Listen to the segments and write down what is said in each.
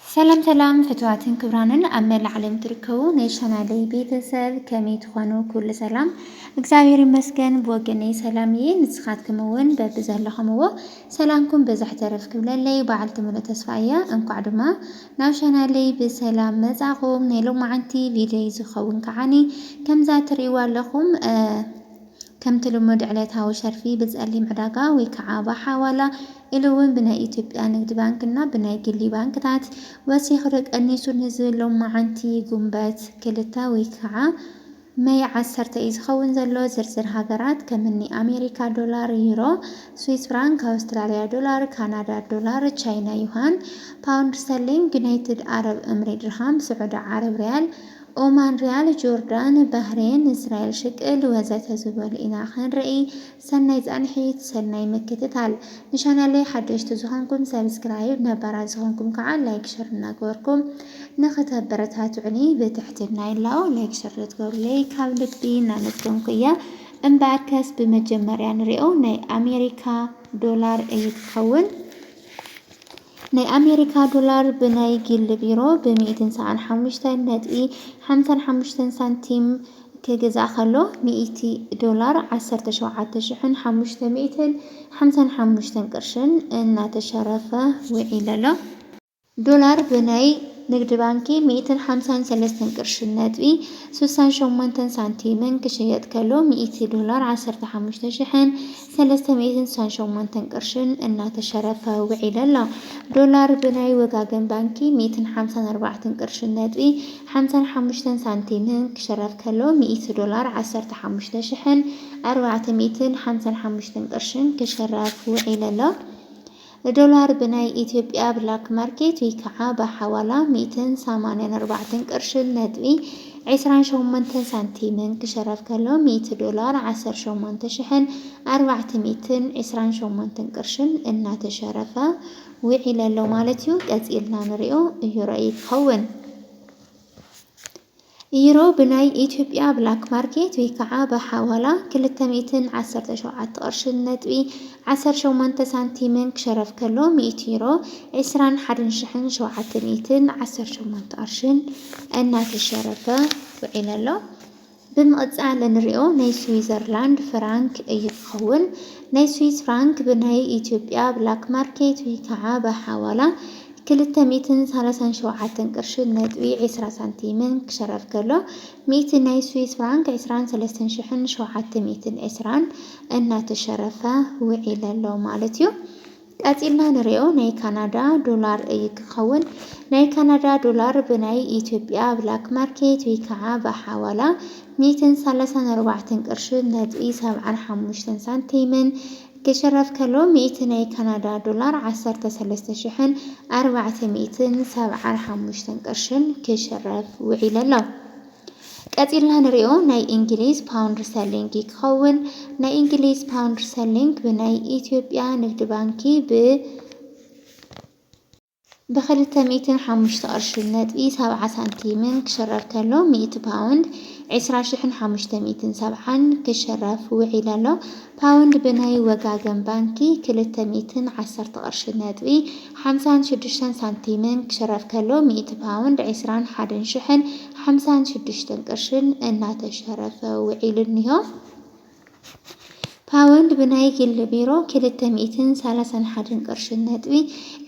ሰላም ሰላም ፍትዋትን ክብራንን ኣብ መላእ ዓለም ትርከቡ ናይ ቻናለይ ቤተሰብ ከመይ ትኾኑ? ኩሉ ሰላም እግዚኣብሔር ይመስገን ብወገነይ ሰላም እየ። ንስኻትኩም እውን በቢ ዘለኹምዎ ሰላምኩም በዛሕ ተረፍ ክብለለይ በዓልቲ ሙሉእ ተስፋ እያ። እንኳዕ ድማ ናብ ቻናለይ ብሰላም መጻኹም። ናይ ሎማዓንቲ ቪድዮይ ዝኸውን ከዓኒ ከምዛ ትርእይዋ ኣለኹም ከምቲ ልሙድ ዕለታዊ ሸርፊ ብጸሊም ዕዳጋ ወይ ከዓ ብሓዋላ ኢሉ እውን ብናይ ኢትዮጵያ ንግዲ ባንክ እና ብናይ ግሊ ባንክታት ወሲኹ ዶ ቀኒሱ ንዝብል ሎማዓንቲ ጉንበት ክልተ ወይ ከዓ መይ ዓሰርተ እዩ ዝኸውን ዘሎ። ዝርዝር ሃገራት ከምኒ ኣሜሪካ ዶላር፣ ዩሮ፣ ስዊስ ፍራንክ፣ ኣውስትራሊያ ዶላር፣ ካናዳ ዶላር፣ ቻይና ዩሃን፣ ፓውንድ ስተርሊንግ፣ ዩናይትድ ኣረብ እምሬ ድርሃም፣ ስዑዲ ዓረብ ሪያል፣ ኦማን ሪያል ጆርዳን ባህሬን እስራኤል ሽቅል ወዘተ ዝበሉ ኢና ክንርኢ ሰናይ ፃንሒት ሰናይ ምክትታል ንቻናለይ ሓደሽቲ ዝኾንኩም ሰብስክራይብ ነባራት ዝኾንኩም ከዓ ላይክ ሸር እናገበርኩም ንክተበረታትዑኒ ብትሕትና ይላቦ ላይክ ሸር ዘትገብሩለይ ካብ ልቢ እናመስገንኩ እየ እምበኣር ከስ ብመጀመርያ ንሪኦ ናይ ኣሜሪካ ዶላር እዩ ትኸውን ናይ ኣሜሪካ ዶላር ብናይ ጊልድ ቢሮ ብ ሚእትን ሰብዓን ሓሙሽተን ነጥቢ ሓምሳን ሓሙሽተን ሳንቲም ክግዛእ ከሎ ሚእቲ ዶላር ዓሰርተ ሸውዓተ ሽሕን ሓሙሽተ ሚእትን ሓምሳን ሓሙሽተን ቅርሽን እናተሸረፈ ውዒሉ ኣሎ። ዶላር ብናይ ንግድ ባንኪ ሚእትን ሓምሳን ሰለስተን ቅርሽን ነጥቢ ሱሳን ሸሞንተን ሳንቲምን ክሽየጥ ከሎ ሚእቲ ዶላር ዓሰርተ ሓሙሽተ ሽሕን ሰለስተ ሚእትን ስሳን ሸሞንተን ቅርሽን እናተሸረፈ ውዒሉ ኣሎ። ዶላር ብናይ ወጋገን ባንኪ ሚእትን ሓምሳን ኣርባዕተን ቅርሽን ነጥቢ ሓምሳን ሓሙሽተን ሳንቲምን ክሽረፍ ከሎ ሚእቲ ዶላር ዓሰርተ ሓሙሽተ ሽሕን ኣርባዕተ ሚእትን ሓምሳን ሓሙሽተን ቅርሽን ክሽረፍ ውዒሉ ኣሎ። ንዶላር ብናይ ኢትዮጵያ ብላክ ማርኬት ወይ ከዓ ብሓዋላ ሚእትን ሰማንያን ኣርባዕተን ቅርሽን ነጥቢ ዕስራን ሸሞንተን ሳንቲምን ክሸረፍ ከሎ ሚእቲ ዶላር ዓሰርተ ሸሞንተ ሽሕን ኣርባዕተ ሚእትን ዕስራን ሸሞንተን ቅርሽን እናተሸረፈ ውዒለ ኣሎ ማለት እዩ። ቀፂልና ንሪኦ እዩ ረእይ ክኸውን። ዩሮ ብናይ ኢትዮጵያ ብላክ ማርኬት ወይ ከዓ ብሓዋላ ክልተ ሚእትን ዓሰርተ ሸውዓተ ቅርሽን ነጥቢ ዓሰርተ ሸሞንተ ሳንቲምን ክሸረፍ ከሎ ሚእቲ ዩሮ ዕስራን ሓደን ሽሕን ሸውዓተ ሚእትን ዓሰርተ ሸሞንተ ቅርሽን እናተሸረፈ ውዒሉ ኣሎ። ብምቕፃል እንሪኦ ናይ ስዊዘርላንድ ፍራንክ እዩ ክኸውን። ናይ ስዊዝ ፍራንክ ብናይ ኢትዮጵያ ብላክ ማርኬት ወይ ከዓ ብሓዋላ ክልተ ሚእትን ሳላሳን ሸውዓተን ቅርሺን ነጥቢ ዕስራ ሳንቲምን ክሸረፍ ከሎ፣ ሚእቲ ናይ ስዊስ ፍራንክ ዕስራን ሰለስተን ሽሕን ሸውዓተ ሚእትን ዕስራን እናተሸረፈ ውዒለ ኣሎ ማለት እዩ። ቀጺልና ንሪኦ ናይ ካናዳ ዶላር እዩ ክኸውን። ናይ ካናዳ ዶላር ብናይ ኢትዮጵያ ብላክ ማርኬት ወይ ከዓ ብሓዋላ ሚእትን ሳላሳን ኣርባዕተን ቅርሺን ነጥቢ ሰብዓን ሓሙሽተን ሳንቲምን ክሽረፍ ከሎ ሚእቲ ናይ ካናዳ ዶላር ዓሰርተ ሰለስተ ሽሕን ኣርባዕተ ሚእትን ሰብዓን ሓሙሽተን ቅርሽን ክሽረፍ ውዒለ ኣሎ። ቀጺልና ንሪኦ ናይ እንግሊዝ ፓውንድ ስተርሊንግ እዩ ክኸውን። ናይ እንግሊዝ ፓውንድ ስተርሊንግ ብናይ ኢትዮጵያ ንግድ ባንኪ ብ ብክልተ ሚእትን ሓሙሽተ ቅርሽን ነጥቢ ሰብዓ ሳንቲምን ክሽረፍ ከሎ ሚእቲ ፓውንድ ዕስራ ሽሕን ሓሙሽተ ሚእትን ሰብዓን ክሽረፍ ውዒሉ ኣሎ። ፓውንድ ብናይ ወጋገን ባንኪ ክልተ ሚእትን ዓሰርተ ቅርሽን ነጥቢ ሓምሳን ሽዱሽተን ሳንቲምን ክሽረፍ ከሎ ሚእቲ ፓውንድ ዕስራን ሓደን ሽሕን ሓምሳን ሽዱሽተን ቅርሽን እናተሸረፈ ውዒሉ እኒሆ። ፓውንድ ብናይ ግሊ ቢሮ ክልተ ሚእትን ሰላሳን ሓደን ቅርሽን ነጥቢ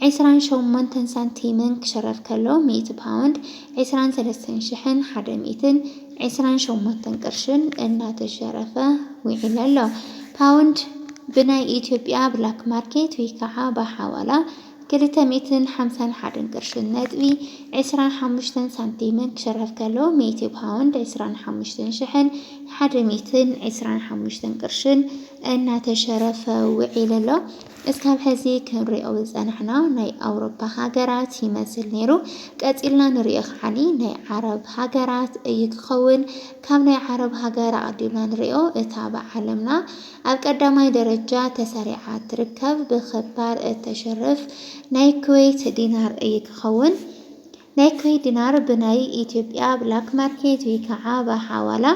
ዕስራን ሸሞንተን ሳንቲምን ክሽረፍ ከሎ ሚእቲ ፓውንድ ዕስራን ሰለስተን ሽሕን ሓደ ሚእትን ዕስራን ሸሞንተን ቅርሽን እናተሸረፈ ውዒሉ ኣሎ። ፓውንድ ብናይ ኢትዮጵያ ብላክ ማርኬት ወይ ከዓ ብሓዋላ ክልተ ሚእትን ሓምሳን ሓደን ቅርሽን ነጥቢ ዕስራን ሓሙሽተን ሳንቲምን ክሽረፍ ከሎ፣ ሚእቲ ፓውንድ ዕስራን ሓሙሽተን ሽሕን ሓደ ሚእትን ዕስራን ሓሙሽተን ቅርሽን እናተሸረፈ ውዒሉ ኣሎ። እስካብ ሕዚ ክንሪኦ ዝጸናሕና ናይ ኣውሮፓ ሃገራት ይመስል ነይሩ። ቀጺልና ንሪኦ ከዓኒ ናይ ዓረብ ሃገራት እዩ ክኸውን። ካብ ናይ ዓረብ ሃገር ኣቐዲምና ንሪኦ እታ ብዓለምና ኣብ ቀዳማይ ደረጃ ተሰሪዓ እትርከብ ብክባር እተሽርፍ ናይ ኩዌት ዲናር እዩ ክኸውን። ናይ ኩዌት ዲናር ብናይ ኢትዮጵያ ብላክ ማርኬት ወይ ከዓ ብሓዋላ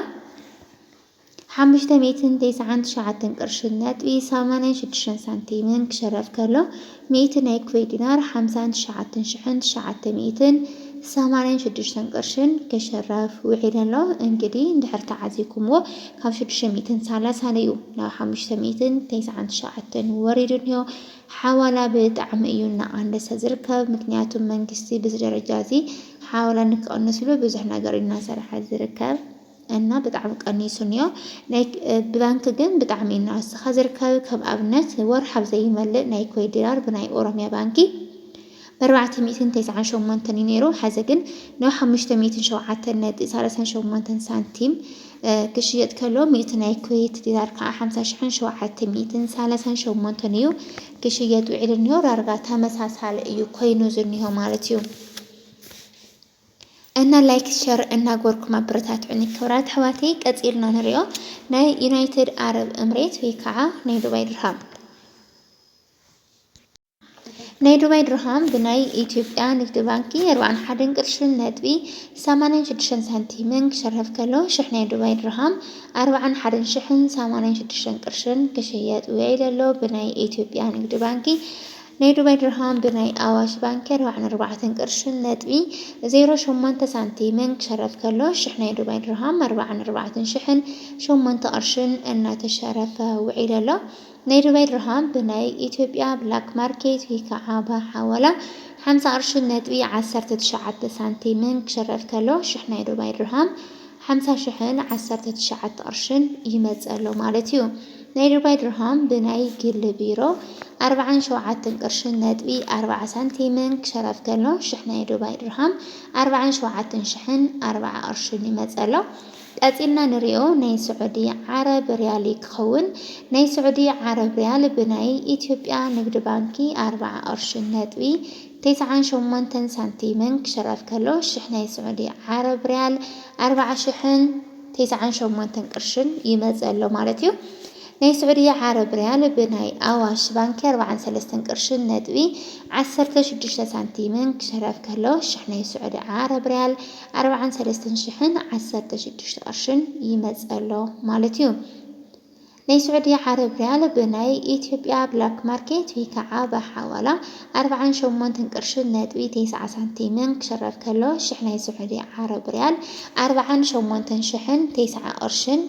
ሓሙሽተ ሚእትን ተስዓን ትሽዓተን ቅርሽን ነጥቢ ሰማንያን ሽዱሽተን ሳንቲምን ክሽረፍ ከሎ ሚእቲ ናይ ኩዌት ዲናር፣ ሓምሳን ትሽዓተን ሽሕን ትሽዓተ ሚእትን ሰማንያን ሽዱሽተን ቅርሽን፣ ክሽረፍ ውዒሉ ኣሎ። እንግዲ እንድሕር ተዓዚብኩምዎ፣ ካብ ሽዱሽተ ሚእትን ሰላሳን እዩ ናብ ሓሙሽተ ሚእትን ተስዓን ትሽዓተን ወሪዱ እኒሆ። ሓዋላ ብጣዕሚ እዩ እናቐነሰ ዝርከብ። ምክንያቱ መንግስቲ በዚ ደረጃ እዚ ሓዋላ ንክቕንስሉ ብዙሕ ነገር እዩ እናሰርሐ ዝርከብ። እና ብጣዕሚ ቀኒሱ እንዮ ናይ ብባንኪ ግን ብጣዕሚ እዩ ንዕስኻ ዝርከብ ከም ኣብነት ወርሒ ኣብ ዘይመልእ ናይ ኮይት ዲራር ብናይ ኦሮሚያ ባንኪ በርባዕተ ሚእትን ተስዓን ሸሞንተን እዩ ነይሩ ሐዚ ግን ናብ ሓሙሽተ ሚእትን ሸውዓተን ነጥቢ ሳላሳን ሸሞንተን ሳንቲም ክሽየጥ ከሎ ሚእቲ ናይ ኮይት ዲራር ከዓ ሓምሳ ሽሕን ሸውዓተ ሚእትን ሳላሳን ሸሞንተን እዩ ክሽየጥ ውዒሉ እንዮ ዳርጋ ተመሳሳሊ እዩ ኮይኑ ዝኒሆ ማለት እዩ እና ላይክ ሸር እናግበርኩም ኣበረታትዑኒ ክብራት ኣሕዋተይ ቀፂልና ንሪኦ ናይ ዩናይትድ ኣረብ እምሬት ወይ ከዓ ናይ ዱባይ ድርሃም ናይ ዱባይ ድርሃም ብናይ ኢትዮጵያ ንግዲ ባንኪ ኣርባዕን ሓደን ቅርሽን ነጥቢ ሰማንያን ሽዱሽተን ሳንቲምን ክሸርፍ ከሎ ሽሕ ናይ ዱባይ ድርሃም ኣርባዕን ሓደን ሽሕን ሰማንያን ሽዱሽተን ቅርሽን ክሽየጥ ውዒሉ ኣሎ ብናይ ኢትዮጵያ ንግዲ ባንኪ ናይ ዱባይ ድርሃም ብናይ ኣዋሽ ባንኪ ኣርባዓን ኣርባዕተን ቅርሽን ነጥቢ ዜሮ ሸሞንተ ሳንቲምን ክሸረፍ ከሎ ሽሕ ናይ ዱባይ ድርሃም ኣርባዓን ኣርባዕተን ሽሕን ሸሞንተ ቅርሽን እናተሸረፈ ውዒሉ ኣሎ። ናይ ዱባይ ድርሃም ብናይ ኢትዮጵያ ብላክ ማርኬት ወይ ከዓ ብሓዋላ ሓምሳ ቅርሽን ነጥቢ ዓሰርተ ትሽዓተ ሳንቲምን ክሸረፍ ከሎ ሽሕ ናይ ዱባይ ድርሃም ሓምሳ ሽሕን ዓሰርተ ትሽዓተ ቅርሽን ይመጽእ ኣሎ ማለት እዩ። ናይ ዱባይ ድርሃም ብናይ ግሊ ቢሮ ኣርብዓን ሸውዓትን ቅርሽን ነጥቢ ኣርብዓ ሳንቲምን ክሸረፍ ከሎ ሽሕ ናይ ዱባይ ድርሃም ኣርብዓን ሸውዓትን ሽሕን ኣርብዓ ቅርሽን ይመጽእ ኣሎ። ቀጺልና ንሪኦ ናይ ስዑዲ ዓረብ ሪያል እዩ ክኸውን። ናይ ስዑዲ ዓረብ ሪያል ብናይ ኢትዮጵያ ንግድ ባንኪ ኣርብዓ ቅርሽን ነጥቢ ቴስዓን ሸሞንተን ሳንቲምን ክሽረፍ ከሎ ሽሕ ናይ ስዑዲ ዓረብ ርያል ኣርብዓ ሽሕን ቴስዓን ሸሞንተን ቅርሽን ይመጽእ ኣሎ ማለት እዩ። ናይ ስዑዲ ዓረብ ርያል ብናይ ኣዋሽ ባንኪ ኣርብዓን ሰለስተን ቅርሽን ነጥቢ ዓሰርተ ሽዱሽተ ሳንቲምን ክሽረፍ ከሎ ሽሕ ናይ ስዑዲ ዓረብ ርያል ኣርብዓን ሰለስተን ሽሕን ዓሰርተ ሽዱሽተ ቅርሽን ይመጽእ ኣሎ ማለት እዩ። ናይ ስዑዲ ዓረብ ሪያል ብናይ ኢትዮጵያ ብላክ ማርኬት ወይ ከዓ ብሓዋላ ኣርብዓን ሸሞንተን ቅርሽን ነጥቢ ቴስዓ ሳንቲምን ክሽረፍ ከሎ ሽሕ ናይ ስዑዲ ዓረብ ሪያል ኣርብዓን ሸሞንተን ሽሕን ቴስዓ ቅርሽን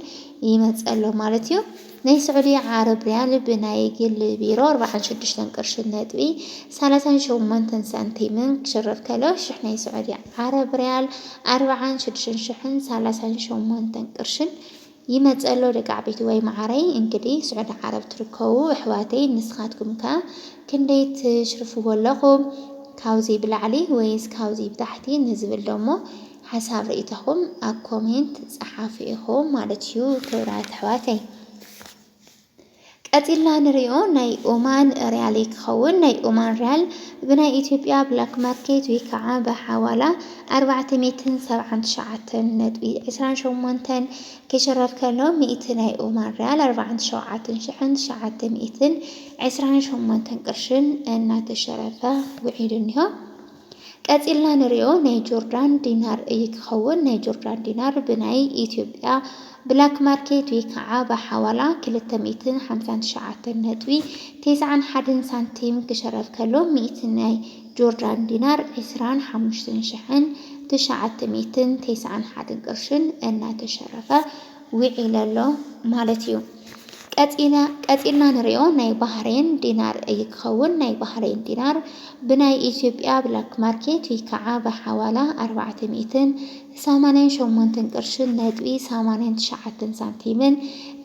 ይመፅእ ኣሎ ማለት እዩ። ናይ ስዑዲ ዓረብ ሪያል ብናይ ግሊ ቢሮ ኣርብዓን ሽዱሽተን ቅርሽን ነጥቢ ሰላሳን ሸሞንተን ሳንቲምን ክሽረፍ ከሎ ሽሕ ናይ ስዑዲ ዓረብ ሪያል ኣርብዓን ሽዱሽተን ሽሕን ሰላሳን ሸሞንተን ቅርሽን ይመጽእ ኣሎ ደቅዓበይቲ ዋይ ማዓረይ እንግዲ ስዑዲ ዓረብ ትርከቡ እሕዋተይ ንስካትኩም ከ ክንደይ ትሽርፍዎ ኣለኩም ካብዙይ ብላዕሊ ወይስ ካብዙይ ብታሕቲ ንዝብል ደሞ ሓሳብ ሪኢቶኩም ኣብ ኮሜንት ጸሓፉ ኢኩም ማለት እዩ ክብራት ኣሕዋተይ። ቀጺልና ንሪኦ ናይ ኦማን ርያለይ ክኸውን። ናይ ኦማን ርያል ብናይ ኢትዮጵያ ብላክ ማርኬት ወይ ከዓ ብሓዋላ ኣርባዕተ ሚእትን ሰብዓን ትሽዓተን ነጥቢ ዕስራን ሸሞንተን ክሽረፍ ከሎ ሚእቲ ናይ ኦማን ርያል ኣርባዓን ትሸውዓተን ሽሕን ትሽዓተ ሚእትን ዕስራን ሸሞንተን ቅርሽን እናተሸረፈ ውዒሉ እኒሆ። ቀጺልና ንሪኦ ናይ ጆርዳን ዲናር እዪ ክኸውን ናይ ጆርዳን ዲናር ብናይ ኢትዮጵያ ብላክ ማርኬት ወይ ከዓ ብሓዋላ ክልተ ሚእትን ሓምሳን ትሽዓተን ነጥቢ ቴስዓን ሓደን ሳንቲም ክሸረፍ ከሎ ሚእቲ ናይ ጆርዳን ዲናር ዕስራን ሓሙሽትን ሽሕን ትሽዓተ ሚእትን ቴስዓን ሓደን ቅርሽን እናተሸረፈ ዊዒሉ ኣሎ ማለት እዩ። ቀጺልና ንሪኦ ናይ ባህሬን ዲናር እዩ ክኸውን። ናይ ባህሬን ዲናር ብናይ ኢትዮጵያ ብላክ ማርኬት ወይ ከዓ ብሓዋላ ኣርባዕተ ሚእትን ሰማንያን ሸሞንትን ቅርሽን ነጥቢ ሰማንያን ትሽዓተን ሳንቲምን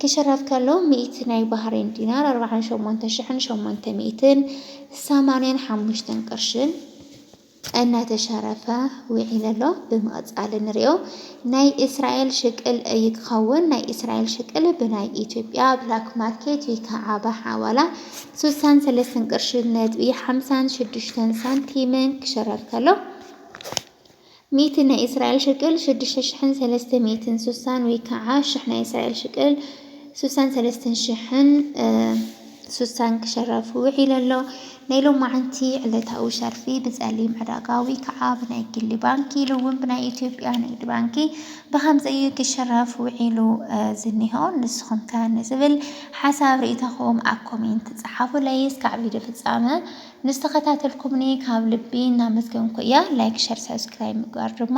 ክሽረፍ ከሎ ሚእቲ ናይ ባህሬን ዲናር ኣርባዓን ሸሞንተ ሽሕን ሸሞንተ ሚእትን ሰማንያን ሓሙሽተን ቅርሽን እናተሸረፈ ዊዒሉ ኣሎ ብምቅጻል ንሪኦ ናይ እስራኤል ሽቅል እዪ ክከውን ናይ እስራኤል ሽቅል ብናይ ኢትዮጵያ ብላክ ማርኬት ዊከዓ ብሓዋላ ሱሳን ሰለስትን ቅርሺ ነጥቢ ሓምሳን ሽዱሽተን ሳንቲምን ክሽረፍ ከሎ ሚእቲ ናይ እስራኤል ሽቅል ሽዱሽተ ሽሕን ሰለስተ ሚእትን ሱሳን ዊከዓ ሽሕ ናይ እስራኤል ሽቅል ሱሳን ሰለስትን ሽሕን ሱሳን ክሸረፍ ውዒሉ ኣሎ። ናይ ሎማዕንቲ ዕለታዊ ሸርፊ ብፀሊም ዕዳጋ ወይ ከዓ ብናይ ግሊ ባንኪ ኢሉ እውን ብናይ ኢትዮጵያ ንግድ ባንኪ ብኸምዚ እዩ ክሸረፍ ውዒሉ ዝኒሆ። ንስኹም ከ ንዝብል ሓሳብ ርኢቶኹም ኣብ ኮሜንት ፀሓፉለይ። እስካዕ ቪድዮ ፍፃመ ምስ ተኸታተልኩምኒ ካብ ልቢ እናመስገንኩ እየ። ላይክ፣ ሸር፣ ሳብስክራይብ ምግባር ድማ